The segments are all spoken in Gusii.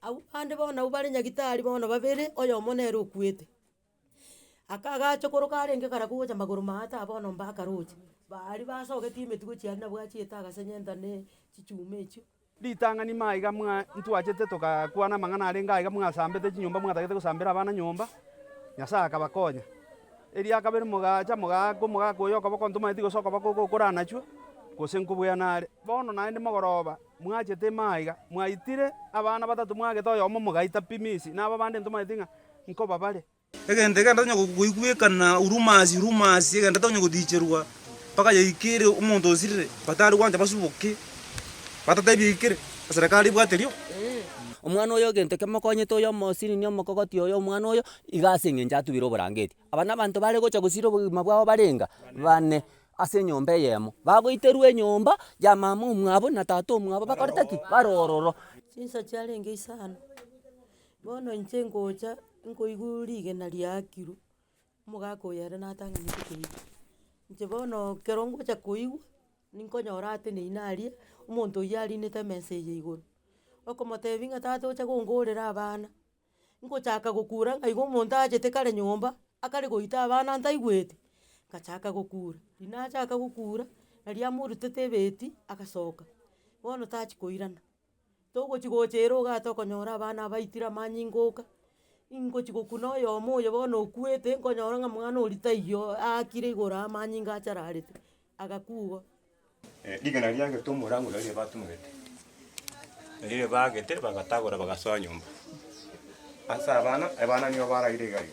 Abwo bande bono nabwo bare nyagitari bono babere, oyomo nere okuete. Aka agacha koroka arenge kare kogocha magoro ma ata bono mbakaroche, baria basogetie emetugo chiaria nabwo achiete agasenyenta ne chichuma echio. Ritang'ani ime aiga ntwachete togakwana amang'ana arenge aiga mwasambete chinyomba mwatagete gosambera abana nyomba, Nyasae akabakonya. Eria kabere mogacha mogaaka omogaka oyo okoboko ntomaeti gose okoboko ogokoranachwa, gose nkobweana are. Bono naende mogoroba mwachete ime aiga, mwaitire abana batato mwagete oyomo mogaita pi Misi, na ababande ntomaeti ng'a nkobabare. Egento ekero tonya goigwekana urumasi urumasi egento tonya godicherwa mpaka yaikere omonto osirire batari gwancha basuboke batatebie yaikere eserekari ebwate erio. Omwana oyo egento kemokonyete oyo omosiriri omokogoti oyo omwana oyo iga ase eng'encho atubire oborangeti. Aba nabanto bare gocha gosira obogima bwabo barenga bane ase enyomba eyemo. Bagoiterwa enyomba ya mama omwabo na tata omwabo bakoreta ki? Bare ororo. Chinsa chiarenge isano. Bono inche ngocha nkoigwa rigena riakirwe, omogaka oyo ere natang'anete koigwa. Inche bono ekero ngocha koigwa, ninkonyora ateneine aria, omonto oyio arinete emesa eye igoro, okomotebia ng'a tata ocha kongorera abana, ngochaka gokura ng'a igo omonto achete kare nyomba, akare goita abana ntaigweti, ngachaka gokura. Riria nachaka gokura, naria amorutete ebeti, agasoka, bono tachi koirana. togochi gocha ere ogate okonyora abana abaitire amanyinga oka, ingochi gokuna oyomo oyo bono okuete nkonyora ng'a mwana oria taiyo aakire igoro aa amanyinga achararete, agakwa igo. Rigena riagete omorango nario ribatumegete, nario ribagete bagatagora bagasoa nyomba. Ase abana, abana nigo baraire igari.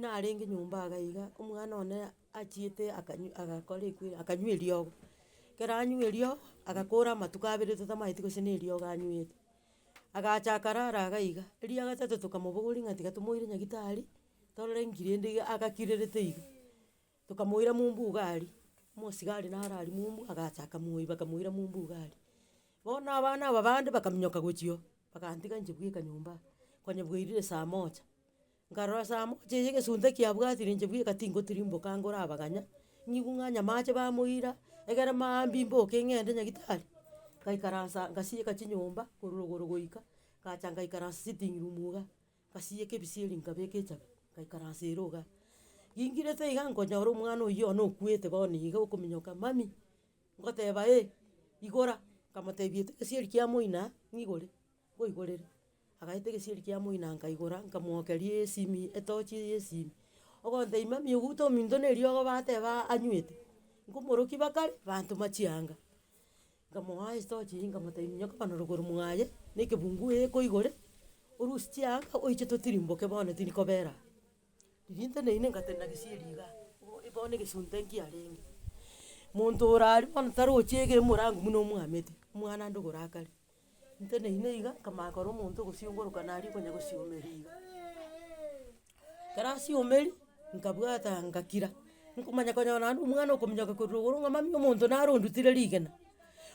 Narenge nyomba iga iga, omwana one achiete akanyw agakora ekweri akanywa eriogo, ekero anywa eriogo, agakora amatuko abere totamanyeti gose na eriogo anywete, agacha akarara iga iga, erio agatete tokamobogoria ng'a tiga tomoire nyagitari, torore ng'irende iga agakirerete iga. Tokamoira mumbu iga aria, omosigari naro aria mumbu agacha akamoiba akamoira mumbu iga aria. Bono abana aba bande bakaminyoka gochia oo, bagantiga inche bweka nyomba aa, konya bwairire saa moja. Nkarora saa moja eye egesunte kiabwatire inche bweka tingotirimboka anga orabaganya, nigo ng'anya amache bamoira, egere maambia imboke ng'ende nyagitari, ngaikaransa ngasieka chinyomba korwa igoro goika, ngacha ngaikaransa sitting room iga. Ngasiyeka ebisieri nkabeka echabi, ngaikara ase ere iga. Ngingirete iga nkonyora omwana oyio one okwete bono iga okominyoka, Mummy, ngoteba eh, igora. Nkamotebia eti egesieri kia moina ng'igore, ngoigorere. Agaeta egesieri kia moina nkaigora, nkamwokeria esimi, etochi ya esimi. Ogontebia mummy ogoute ominto na eriogo bateba anywete, nkomorokia bakare, bantoma chianga. Nkamoa esitochi, nkamotebia, Minyoka bono rogoro mwaye, na ekebungu eeko igoro, orusie chianga oiche totirimboke bono tindi kobera aa. Riria intwe nainwe ngatenena gesieri igaa, igo bono egesunte nkiarenge. Monto ore aria bono tarochi ege omorango buna omwamete, omwana ande ogorakare. Intwe nainwe iga, nkamanya kora omonto ogosiongoroka naria okonya gosiomera iga. Ekerasi ya omeri, nkabwata ngakira, nkomanya konyora naende omwana okominyoka korwa igoro ng'a mami omonto naro ondutire rigena.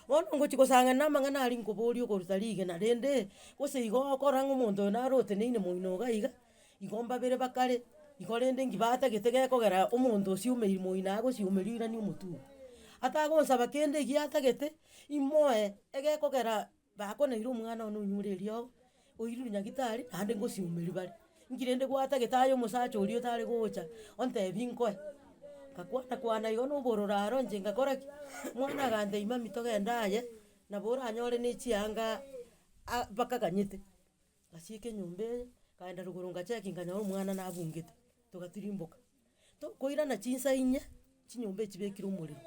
Bono ngochi kosangera na amang'ana aria nkoboria okoruta rigena rende, gose igo okora ng'a omonto oyo naro oteneine moino iga iga, igo mbabere bakare, igo rende nki batagete gekogera omonto osiomeri moino agosia omeri oirania omotwe oo. Atagonsaba kende egiatagete, imoe egekogera. Bakonaire omwana one onyure eriogo, oirure nyagitari, naende ngosiomeri bare. Inki rende gwata gete aye omosacha oria otare gocha ontebi nkoe? Ngakwana kwana igo na obororo aro inche ngakora ki? Omwana agantebia mami togende aye, nabo oranyore ne chianga a- bakaganyete. Ngasiika enyomba eye, nkaenda rogoro ngachecki nkanyora omwana nabungete, togatirimboka. To koirana chinsa inye, chinyomba echi chibekire omorero,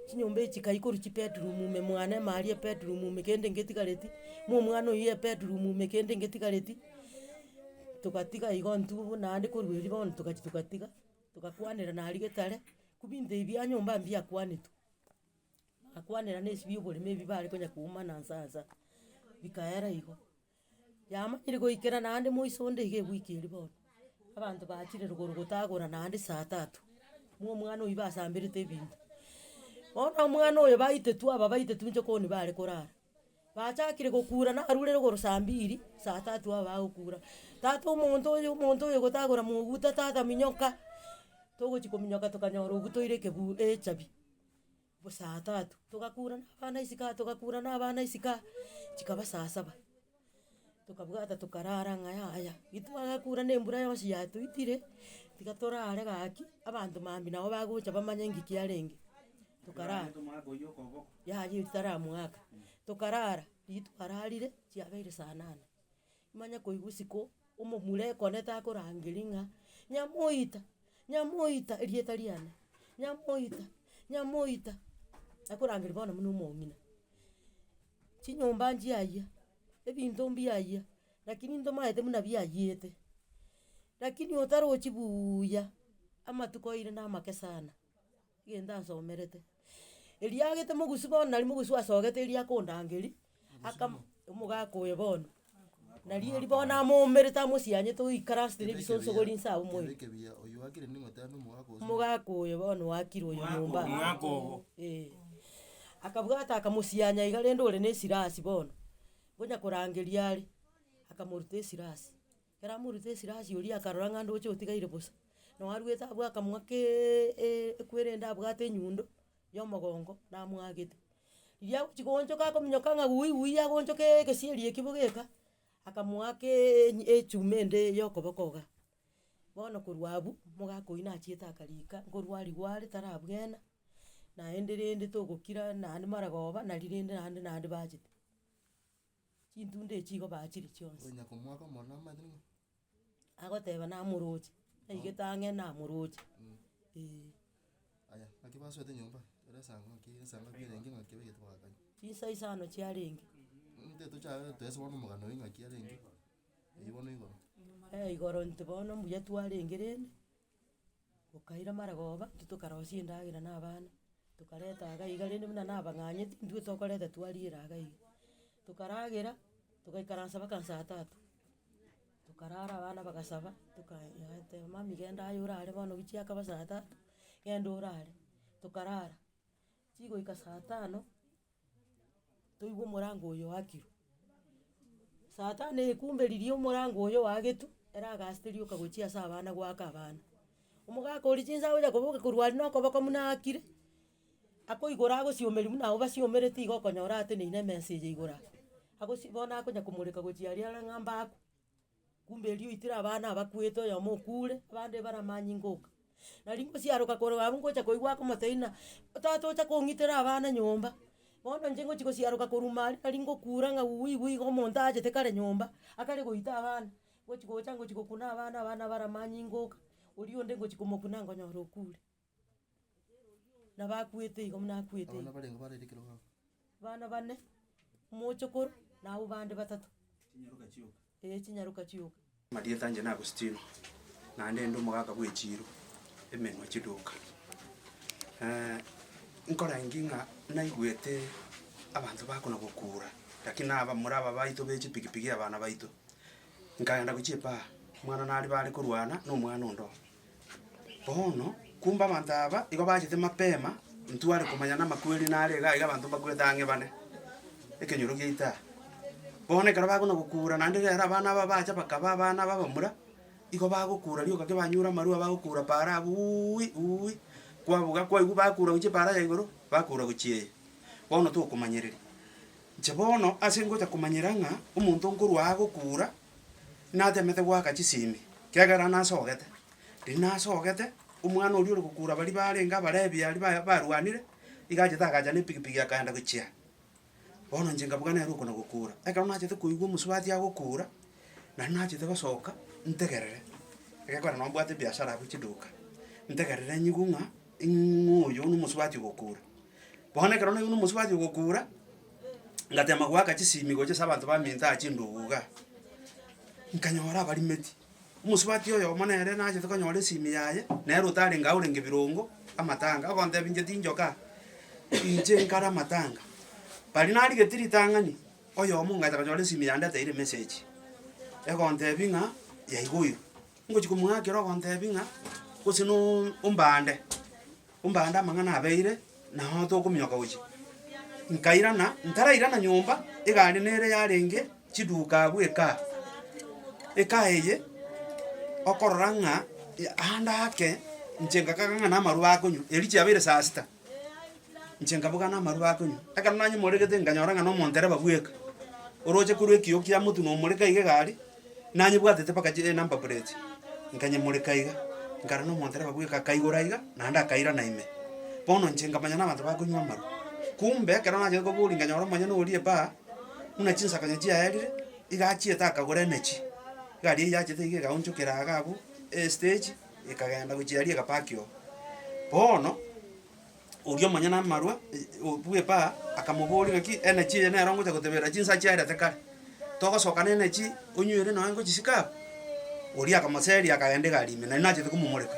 chinyomba echi chikaiyia korwa chibedroom ime mwane ime aria ebedroom ime kende ngetigareti, mo omwana oyio ebedroom ime kende ngetigareti, togatiga igo intwe buna naende korwa erio bono togachi togatiga, togakwanera naria getare, ku binto ebi bia nyomba mbiakwanetwe. Akwanera nesibio y'oborimo ebi bare konya kouma na nsansa, bikaera igo. Yamanyire goikera naende moiso onde iga ewiki eria bono, abanto bachire rogoro gotagora naende saa tatu, buna omwana oyio basamberete ebinto. Bono omwana oyo baitetu aba baitetu inche koni bare korara, bachakire gokura narure rogoro saa mbiri, saa tatu aba bagokura, tata omonto oyo, omonto oyo gotagora moguta, tata minyoka, togochia kominyoka tokanyora ogutoire ekebu echabi. bosaa tatu, togakura na abana isiko aa, togakura na abana isiko aa, chikaba saa saba. Tokabwata tokarara ng'a yaya, ritwagakura na embura yonsi yatuitire, tiga torare gaki, abanto mambia nabo bagocha bamanye ngi kiarenge, tokarara. Yaya etaramwaka, tokarara, riria twararire, chiabeire saa nane. Manya koigwa isiko omomura ekone takorangeria ng'a nyamoita, nyamoita erieta riane, nyamoita, nyamoita, akorangeria bono buna omong'ina. Chinyomba nchiayia, ebinto mbiayia, lakini ntomaete buna biayiete, lakini otarochi buuya, amatuko aire namake sana. egento ansomerete. Erio agete mogusu bono nari mogusu asogete erio akondanga erio, akamo omogaka oyo bono, nari erio bono amoumerete amosianyete oikare asete na ebisonso gori inse abwo moyo. Omogaka oyo bono wakire oyo nyomba aa, eh. Akabwata akamosianya iga rende ore na esirasi bono, ngonya korangeria are, akamoruta esirasi. Ekero amorutire esira asie oria akarora ng'a ndoche otigaire bosa, na oaruete abwo akamua keeeee ekwere ende abwate enyundo ya omogongo namwagete. Riria agochi goonchoka akominyoka ng'a wui wui agonchoka egesieri ekio bogeka, akamoaka eeny echuma ende ya okoboko igaa. Bono korwa abu, mogaka oyio nachiete akarika nkorwa aria gware tarabwena, naende rende togokira naende maragoba nari rende naende naende bachete. chintunda echi igo bachire chionsi. Onye komoaka omorero amanyete ng'a. Agoteba namoroche, naigete ang'e namoroche, eeh. Aya naki basoete nyomba, ere esango naki esango naki erenge ng'aki baigete bagakanya. Chinsa isano chiarenge. Ntitochare toese bono omogano oye ng'aki arenge, eyio bono igoro. Igoro intwe bono mbuya twarenge rende. Gokaira marogoba, intwe tokarosia endagera na abana, tokareta iga iga rende buna nabang'anyete, intwe tokoreta twariera iga iga. Tokaragera, togaikaransa mpaka saa tatu, tokarara abana bagasaba, tokaenda agateba mami genda aye orare bono gichiakaba saa tatu, genda orare, tokarara. Chigoika saa tano. toigwe omorango oyo oakirwe. Saa tano ekumberirie omorango oyo oagetwe, eragachete rioka gochia ase abana goaka abana. Omogaka oria chinsa agocha koboka korwa aria na okoboko buna aakire, akoigora agosiomeri buna abwo basiomerete iga okonyora ateneine emesa eye igoro aa. Agosi bono akonya komoreka gochia aria are ng'a mbakwe. Kumbe erio oitire abana abakwete oyomo okure, abande bare amanyinga oka. Nari ngosiaroka korwa abwo ngocha koigwa akomoteina, tata ocha kong'itera abana nyomba. Bono inche ngochi gosiaroka korwa ime aria nari ngokura ng'a uui uui iga omonto achete kare nyomba, akare goita abana. Ngochi gocha ngochi gokuna abana, abana bare amanyinga oka, oria onde ngochi komokuna ngonyora okure. nabo akwete igo buna akwete Abana igo. barenge barairie ekero baba. Bana bane, omochokoro, na abwo bande batato. Ee, chinyaroka chioka. Amarieta anje na Agustino, naende inde omogaka bwe chiiro, emenwa chiduka. Nkora inki ng'a naigwete abanto bakona gokuura, lakini naba more abaito be chipigipigi abana baito. Nkagenda gochia epara, omwana nari bare korwana na omwana onde oo. Bono, kumbe abanto aba igo bachete mapema, ntware komanya namakweri nare iga iga abanto mbakwete ang'e bane ekenyoro gia itaha. Bono ekero bakona gokura naende ekero abana aba bacha bakaba abana b'abamura, igo bagokura rioka ki banyure amarua bagokura paara abwo uuii uuii, kwabuga kwaigwa bakura gochia epaara ya igoro, bakura gochia eye. Bono tokomanyereria. Inche bono ase ngocha komanyera ng'a omonto nkorwa aa gokura, Natemete goaka chisimi, kiagera nasogete. Riria nasogete, omwana oria ore gokura baria barenge Abalebi aria ba- barwanire, iga achete agacha na epigipigi akaenda gochia. Bono inche nkabuga nere oko na gokura. Ekero nachete koigwa omosubati agokura, nario nachete gosoka ntegerere, egekora nabo mbwate ebiasara abwo chiduka, ntegerere nyigwe ng'a ng'o oyo na omosubati ogokura. Bono ekero naigwe na omosio gwachia gokuura, ngatema goaka chisimi gochia ase abanto baminto aa chindugu igaa, nkanyora abarimeti, omosubati oyomo nere nachete konyora esimi yaye, nere otarenge aye orenge birongo, amatanga, ogontebia inche tinchokaa, inche nkare amatanga. Baria narigetie ritang'ani, oyomo ngacha konyora esimi yandeteire emessage, egontebia ng'a yaigoirwe. Ngochia komogakera ogontebia ng'a gose nooo ombande. Ombande amang'ana abeire, nao tokominyoka gochia. Nkairana, ntarairana nyomba, egari nere yarenge chiduka abwo ekaa. Ekaa eye, okorora ng'a ande ake, inche ngakaga ng'a namarwa akonywa, erio chiabeire saa sita, inche nkaboga namarwa akonywa. Ekero nanyemoregete nkanyora ng'a nomondereba bweka, oroche korwa ekiyoo kiamotwe nomoreka iga egari. nanyebwatete mpaka chi enumber plate, nkanyemoreka iga, nkarora na omondereba bweka, akaigora iga, naende akairana ime. Bono inche nkamanya na abanto bakonywa amarwa, kumbe ekero nachete koboria nkanyora omonyene oria epaa, buna chinsakanyo chiaerire, iga achiete akagora emechi, iga aria yachete iga ekaonchokera iga abwo, estage, ekagenda gochia aria egapaki oo. Bono. Oria omonyene amarwa bw'epaa akamoboria ng'aki, Enachi eye nere ongocha goteberera chinsa chiarete kare? Togosoka nenachi onywere nonya ngochisika aba? Oria akamoseria akagenda egari ime, na inwe nachete komomoreka.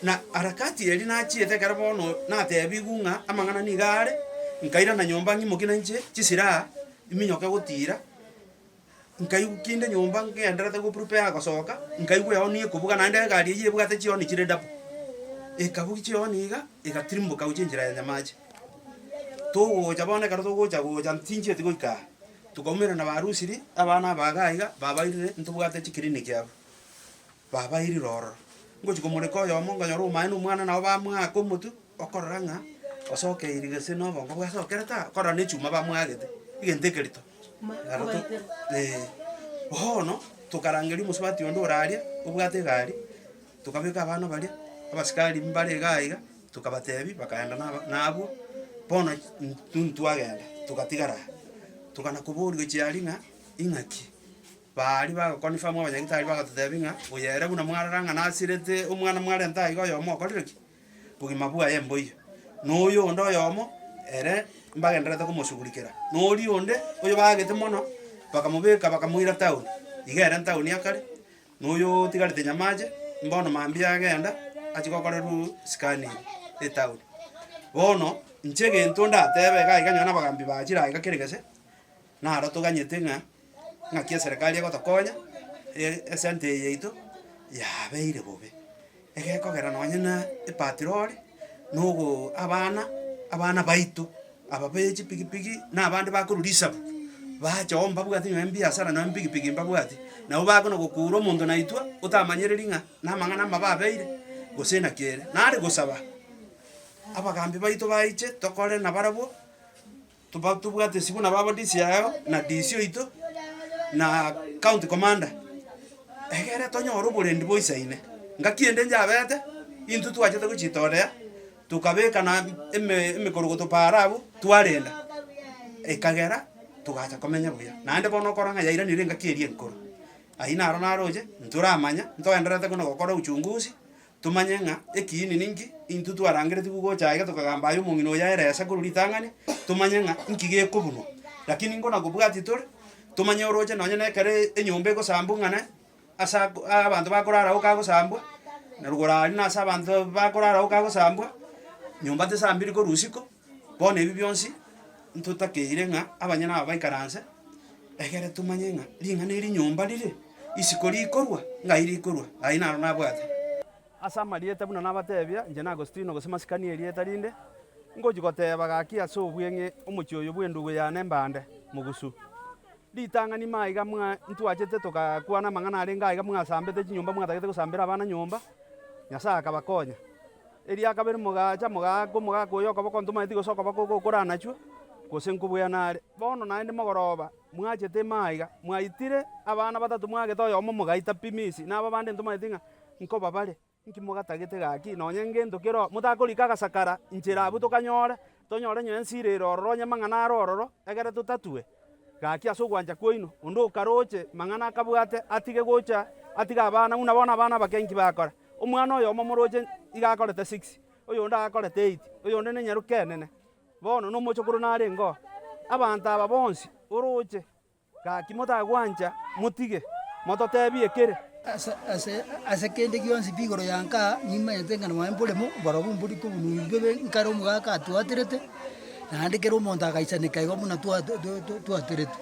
Na harakati eria nachiete ekero bono natebigwe ng'a amang'ana niga are, nkairana nyomba ng'imoke nainche chisiraha, iminyoke gotiira. Nkaigwa kinde nyomba ngenderete goprepare gosoka, nkaigwa ehoni ekobuga naende egari eyio ebwate chihoni chire double. Ekabugia chihoni iga, egatirimboka gochia enchera ya Nyamache. Togocha bono ekero togocha gocha tinchieti goika aa, tokaumera na barusiri, abana aba iga iga, babairire ntobwate chiclinic abwo. Baba, irira ororo, ngochia komoreka oyomo, nkonyora omwai na omwana nabo bamoaka omotwe, okorora ng'a osokeiri gese na obongo bwasokerete aa, okorora na echuma bamoagete, egento eke rito naro to eh. Bono, tokarangeria omosubati onde ore aria, obwate egari, tokabeka abana baria, abasikari mbare igaa iga, tokabatebi, bakaenda naba nabwo, bono in intwe twagenda, togatigara aa. Tokana koboriwa chiaria ng'a ing'aki. Baaria bagakonifamwa abanyagetari bagatoteebia ng'a, Oyo ere buna mwarora ng'a nasirete omwana mwarenta aiga oyomo okorire ki? Bogima bwaye mboiyo. Na oyo onde oyomo ere mbagendererete komosugurikera, na oria onde oyo baagete mono bakamobeka bakamoira town, iga ere ntown ya kare, na oyo otigarete nyamache, mbono mambia agenda achia gokorerwa scanning etown. Bono inche egento ndateebe iga aiga nyoo na abagambi baa chire aiga kera egese. Naro toganyete ng'a ng'aki eserekari egotokonya, e- esente eye yaito yabeire bobe, egekogera nonye na epatirori, na ogo abana abana baito aba be chipigipigi, na abande bakorwa risabu, bacha oo mbabwati nonye mbiasara nonye mpigipigi mbabwati, nabo bakoa na gokuura omonto naitwe otamanyereri ng'a na amang'ana amabo abeire, gose naki ere. Nare gosaba, abagambi baito baiche tokore nabarabwo, Toba tobwate esiko nabo aba DC yago, na DC oito, na county commander, egere tonyore oborendi bwa isaine. Ngaki ende njabete, intwe twachete gochitooria, tokabeka na eme emekorogoto paaro abwo, twarenda, ekagera togacha komenya buya. Naende bono okora ng'a yairanire engaki eria enkoro. Ayio naro naroche, intwe oramanya, ntoenderete buna gokora uchunguzi, Tomanye ng'a ekiini ninki, intwe twarangeretigwe gocha aye getokagamba aye omong'ina oyo aere ase korwa ritang'ani, tomanye ng'a inki gekobunwa. Lakini ingo nakobwatie tore, tomanye oroche nonye na ekero enyomba egosambwa ng'a nae, ase ako aa abanto bakorara agwo kagosambwa, na rogoro aria nase abanto bakorara agwo kagosambwa, nyomba tesambiri korwa isiko. Bono ebi bionsi ntotakeire ng'a abanyene aba baikaranse, egere tomanye ng'a ring'ana eri nyomba rire, isiko rikorwa, ngai rikorwa, aye naro nabwate. Ase amarieta buna nabatebia, inche n'Agostino, gose masikani erieta rinde, ngochia goteba gaki ase obweng'e omochie oyo bw'endugu yane mbande, mogusu. Ritang'ani maiga mwa ntwachete togakwana amang'ana arenge aiga mwasambete chinyomba mwatagete gosambera abana nyomba, Nyasae akabakonya. Erio akabere mogacha, mogaaka omogaka oyo okoboko ntomaeti gose okoboko ogokora anachwe, gose nkobweana are. Bono naende mogoroba mwachete ime aiga, mwaitire abana batato mwagete oyomo mogaita pi Misi, na ababande ntomaeti ng'a nkobabare. Inki mogatagete gaki? Nonya ngento kero motakorika agasakara inchera abwo tokanyore? Tonyore nyo ensi ire ere ororo onye amang'ana are ororo, egere totatue. Gaki ase ogwancha kwaino, onde okaroche mang'ana akabwate atige gocha atige abana, buna bono abana abake inki bakora. Omwana oyomo omoroche iga akorete six, oyonde akorete eight, oyonde nenyaroke enene, bono nomochokoro narenge oo. Abanto aba bonsi oroche. Gaki motagwancha, motige, mototeebie kere. Ase kende gionsi pi igoro ya nka nimanyete ng'a nwaye mboremo oborobwo mbori kobunui bw'ebe nkare omogaka atwaterete, naende kera omonto agaisaneka igo buna twaterete.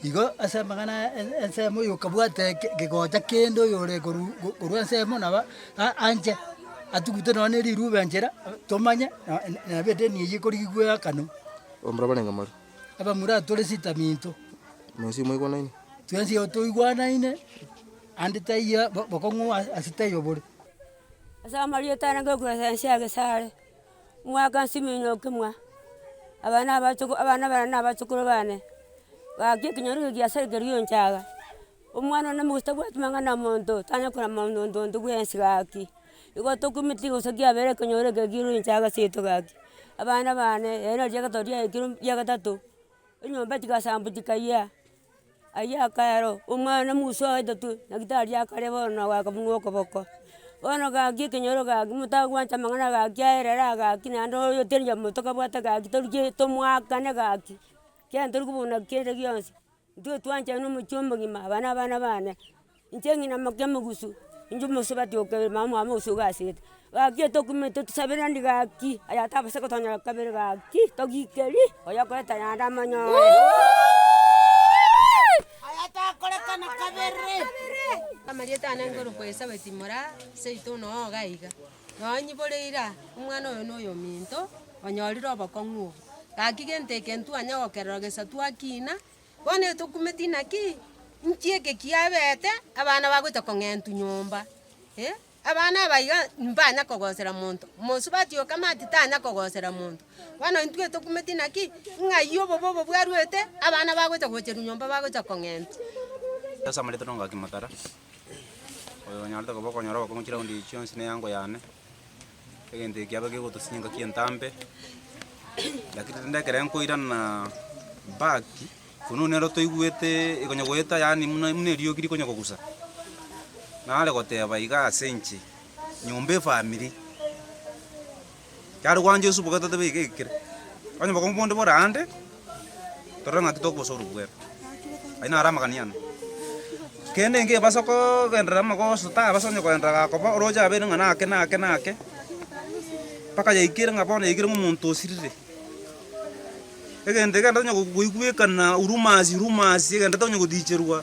Igo ase amang'ana aya ensemo oyokabwate gegocha kende oyore korwa korwa ensemo naba anche atugute nonya ne riruba enchera tomanye nabo edeni eye ekorigia goeakana. Omorabwo arenge moria. abamura tore sitaminto. Mwensi mwaigwanaine. Twensi toigwanaine, ande taiyo bokong'u ase taiyo bore. Ase amarieta aya nanga ekurase ense ya Gesare, omwaka nsimi nyoke mwa, abana abachoko abana bane na abachokoro bane, bakia ekenyoro eke giasare keria onchaga. Omwana one nigo tabwati mang'ana omonto, tanyare korora monto monto monto bwensi gaki. Igo tokumeti gose kiabere ekonyoro eke ekero inche agaseto gaki. Abana bane ere nari riagato riaikire ria gatato, enyomba chigasambu chikayia, ayio akaero, omwana musa oye tatu naki tariakare bono na goaka buna okoboko. Bono gaki ekenyoro gaki motagwancha amang'ana gaki aerera gaki naende oyo teri omonto kabwate gaki toruche tomoakane gaki, kiagera tori kobuna kende gionsi. Intwe twanchire nomochie omogima, aba nabana bane, inche ng'ina mokia mogusu, inche omosubati o kabere, mama oye mogusu ogasete. Gaki etokumete tusabere endi gaki, aye atabasete kotonyora kabere gaki, togikeri oyo okoreta yande amanyore. Amarieta ane ngorokwa Elisabeti mora seito onoo iga. Nonyi bore ira, omwana oyo noyominto, onyorire obokong'u obo, gaki gento eke ntwanya gokererwa gesa twakina, bono etokumeti naki? Inki eke kiabete? Abana bagocha kong'entu nyomba, eh, abana aba iga mbanya kogosera monto, omosubati oyo kama ati tanya kogosera monto, bono intwe etokumeti naki? Ng'ai obobe obo bwaruete, abana bagocha gocherwa nyomba bagocha kong'entu. Oyo onyorete koba okonyora obokong'u chiraundi echi chionsi neyango yane, egento eke kiabe kegotosia engaki entambe, lakini rende ekero nkoirana back, korwa nero toigwete ekonya goeta yaani buna buna eriogi rikonya kogusa, nare goteba iga ase inche, nyomba efamiri. Yare gwancha Yeso bobe totobe iga ekere, onye bobe omonto bore aande, torore ng'aki tokobosa orobwero. Ayio naro amagani yane. Kende enke ebasa kogenderera amagoso tabasa onye kogenderera gakoba, oroche abeire ng'a nake nake nake, mpaka yaikire ng'a bono yaikire ng'a omonto osirire. Egento ekende tonya goigwekana urumasi rumasi egento tonya goticherwa.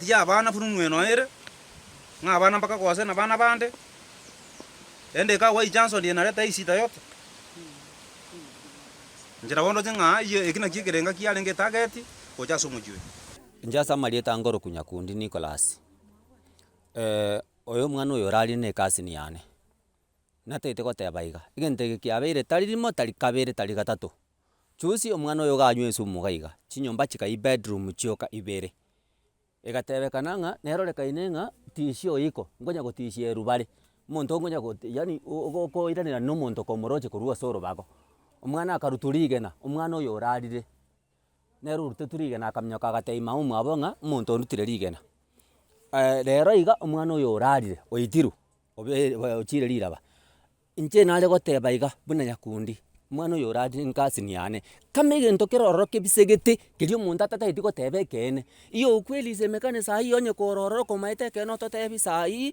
Tiga abana buna omw'enoe ere, ng'a abana mpaka gose nabana bande, erinde ekagwa echanso ndie nare tai shida yote. Inche nabo ndoche ng'a ayio eki nakio ekerenga kiarenge etageti gocha ase omochie oyo. Inche ase amarieta ange orokunya kundi Nicholas, oyo omwana oyo orarie ne cousin yane. Natagete goteba iga, egento eke kiabeire tari rimo tari kabere tari gatato. Chusi omwana oyo ganywa esumu gaiga, chinyomba chikayia ebedroom chioka ibere, egatebekana ng'a nerorekaine ng'a tisia oyiko, nkonya gotisia erubare, omonto nkonya got yaani ogokoiranera nomonto komoroche korwa ase orobago, omwana akarutwa rigena, omwana oyo orarire, nere orutetwe rigena akaminyoka agatebia mama omwabo ng'a omonto ondutire rigena. rero iga omwana oyo orarire oitirwe obe ochiire riraba, Inche nare goteba iga buna nyakundi, omwana oyo orarire ingasini yane, kama egento kero ororo kebisegete, keria omonto atatageti goteba ekeene, iyo okwerisia emekane saii onye koro ororo okomaete ekeene ototebi saii,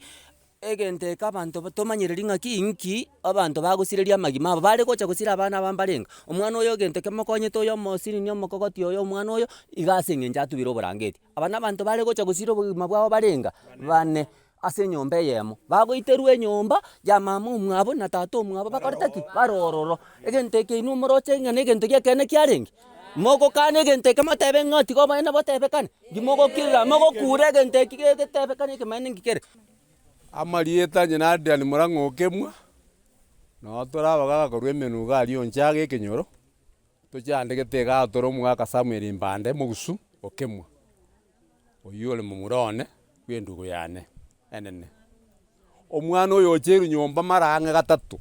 egento eke abanto tomanyereri ng'aki inki, abanto bagosireria amagima abo, bare gocha gosira abana aba mbare enga, omwana oyo egento kemokonyete oyo omosirinie omokogoti oyo omwana oyo, iga ase eng'encho atubire oborangeti. Aba nabanto bare gocha gosiira obogima bwabo barenga bane ase enyomba eyemo, bagoiterwa enyomba ya mama omwabo na tata omwabo bakorete ki? Bare ororo. Egento eke inwe moroche ng'a negento gi'ekeene kiarenge? Mogokana egento eke motebe ng'a tiga obonene botebekane? Inki mogokirira? Mogokuura egento eki getebekane ekemanera inki kere? Amarieta onye na Adrian Murang'a o Kemwa, noo tore abagaga korwa emenugo aria onchage ekenyoro. Tochiandegete iga tore omogaka Samuel Mbande mogusu okemwa, oyio ore momura one bw'endugu yane enene. Omwana oyo oche erunyomba mara ang'e gatato,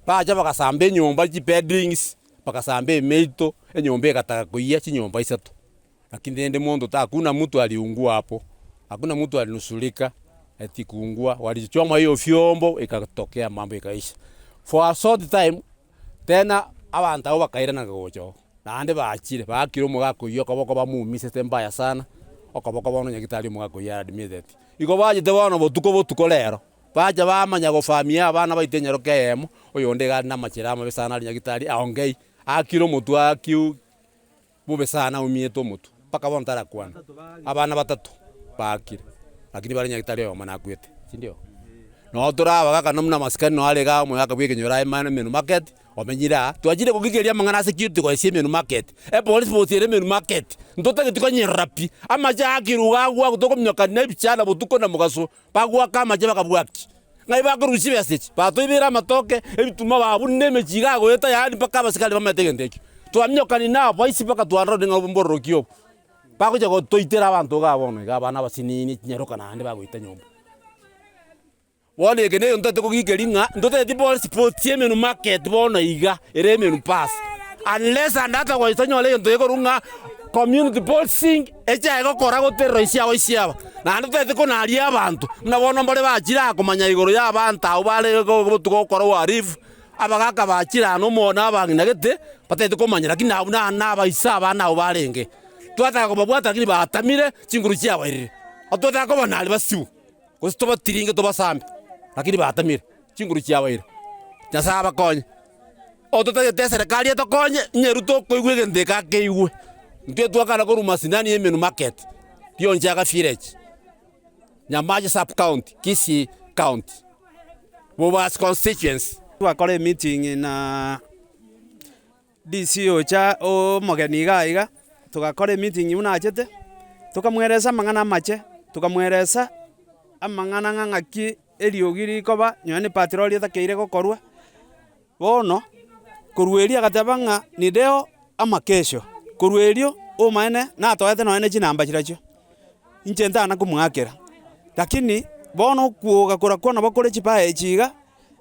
bacha bagasamba enyomba chibedrings, bagasamba emeito, enyomba egataga koyia chinyomba isato, lakini rende monto ta hakuna mtu aliungua hapo, hakuna mtu alinusurika eti kuungua, walichoma hiyo vyombo ikatokea mambo ikaisha. For a short time Tena abanto abwo bakairana gocha oo, naende bachire, baakire omogaka oyio okoboko bamuumisete mbaya sana okoboko bono onye tari omogaka oyio are admitted. Igo bachete bono botuko botuko rero, bacha bamanya gofamia abana baito enyaroke eyemo, oyonde iga are namachera amabe sana aria nyagetari aongei, aakire omotwe aakiu. Bobe sana omiete omotwe mpaka bono tarakwana. Abana batato baakire, lakini bare nyagitari oyomo nakwete, sindio? Noo tore abagaka no muna masikani noo arenge aa omoyaka bw'ekenyoro aye manu emenu market omenyire aa. Twachire kogigeria amang'ana ase kitu goesia emenu market. Epolisi bosi ere emenu market. Ntotageti konyerora pi. Amache aa kiruga agwo agwo tokominyoka nebichara botuko na mogaso. Bagoaka amache bakabwakia, ng'ai bakorusia ebesa echi? Batoibeire amatoke, ebituma baa buna na emechie iga agoeta yaani mpaka abasikari bamaete egento ekio. Twaminyokani naboisi mpaka twarora ode ng'a ombororoki obo. Bagocha gotoitera abanto igaa bono igaa abana abasinini chinyaroka naende bagoita nyomba. Bono eke negento ntotete kogikeri ng'a ntoteti bono sports ya emenu market bono iga ere emenu pass unless and otherwise tonyore egento gekorwa ng'a community boxing. Echa egokora goterera ise yao ise aba, naende totagete konaria abanto, buna bono mbare bachire aa komanya igoro y'abaanto abwo bare botuko gokora uharifu, abagaka bachire aa nomo na abang'ina gete, batagete komanya, lakini abwo na nabaisa abana abwo barenge. Twataka kobabwata lakini baatamire, chinguru chiabairire. Totaka kobanaaria basibwe, gose tobatiringe tobasambe, lakini baatamire, chinguru chiabairire. Nyasae abakonye. Ototagete eserekari etokonye, ng'a eru tokoigwa egento eke akeigwe. Intwe twakana korwa masindani ya Emenu Market, Rionchaga Village, Nyamache Sub-county, Kisii County, Bobasi Constituency. Twakora emeeting na DC ocha omogeni iga iga, togakora emeeting buna achete, tokamweresa amang'ana amache, tokamweresa amang'ana ng'a ng'aki eriogi rikoba, nonye ne patrol etakeire gokorwa. Bono korwa erio agateba ng'a nideo amakesho. Korwa erio omoene natoete nonya ne chinamba chirachio, inche ntana komoakera. Lakini bono okwoga korakwo nabo kore chibaya echi iga,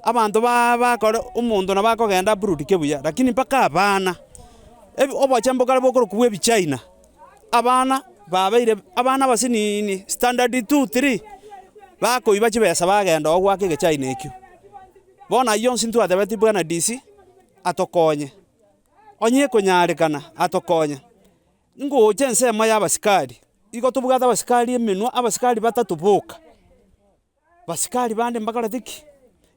abanto ba bakore omonto nabo akogenda aburudike buya, lakini mpaka abana, ebi obochia mbokare bokorokwa bwa ebichina, abana babeire abana abasiniini standard two, three, bakoiba chibesa bagenda oo goaka egechina ekio. Bono ayio onsi ntwatebeti bwana DC. atokonye. Onye ekonyarekana, atokonye. Ngocha ensemo y'abasikari. Igo tobwate abasikari emenwa, abasikari batato boka. Basikari bande mbakorete ki?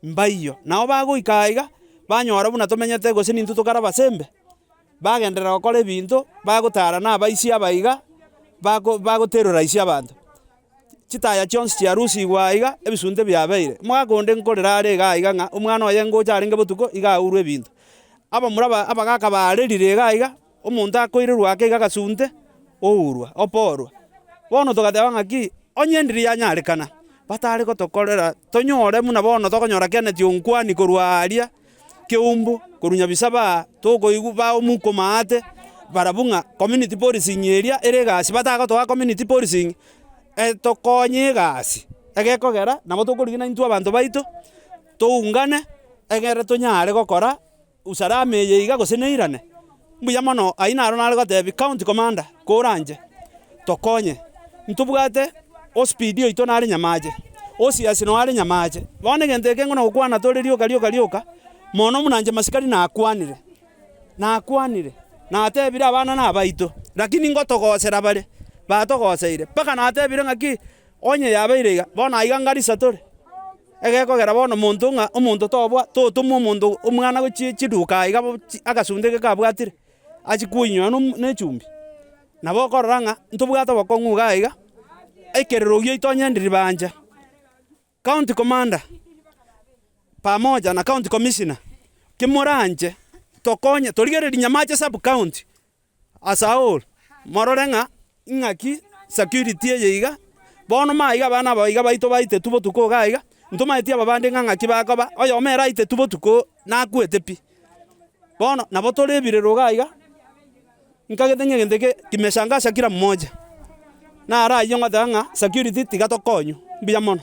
Mbaiyo. Nao bagoika aiga, banyora buna tomenyete gose nintwe tokare abasembe, bagenderera gokora ebinto bagotara na abaisi aba iga, bako bagoterora aise abanto. Chitaya chionsi chiarusigwa aiga, ebisunte biabeire. Omogaka onde nkorera are iga aiga ng'a omwana oye ngocha arenge botuko iga aurwe ebinto. Abamura ba abagaka baarerire iga aiga, omonto akoirerwa ake iga agasunte, ourwa, oporwa. Bono togateba ng'aki, onye endiri yanyarekana, batare gotokorera tonyore buna bono tokonyora Kenneth Onkwani korwa aaria. keumbu korwa nyabisa baa tokoigwa baa omoika omaate barabwo ng'a community policing eria ere egasi batagotoa community policing etokonye egasi egekogera nabo tokorigia intwe abanto baito toungane egere tonyare gokora usalama eye iga gose neirane. Mbuya mono! Ayio naro nare gotebi county commander koranche tokonye. Ntobwate ospidi oito nare nyamache, osiasi noo are nyamache. Bono egento eke ngona gokwana tore rioka rioka rioka, mono buna inche masikari nakwanire, nakwanire, natebire abana nabaito, lakini ngotogosera bare batogoseire, mpaka natebire ng'aki onye yabeire iga, bono aiga ngari satore. Egekogera bono monto ng'a omonto tobua, totoma omonto omwana gochia chiduka aa iga bo agasunte eke kabwatire, achie koinywa nechumbi. Nabo okorora ng'a ntobwate obokong'u igaa iga, ekererogi giaito onye ndiribancha, county commander pamoja na county commissioner, ki moranche tokonye torigereria nyamache sub county. Ase agwo morore ng'a ing'aki security eye iga, bono maiga abana aba iga baitwe baitetwe botuko iga iga, ntomaeti aba bande ng'a ng'aki bakoba, oyomo ere aitetwe botuko nakwete pi. Bono nabo tore ebirero iga iga, nkagete ng'a egento eke kimesha ngasa kira moja, naro ayio ngoteba ng'a security tiga tokonywa, mbuya mono.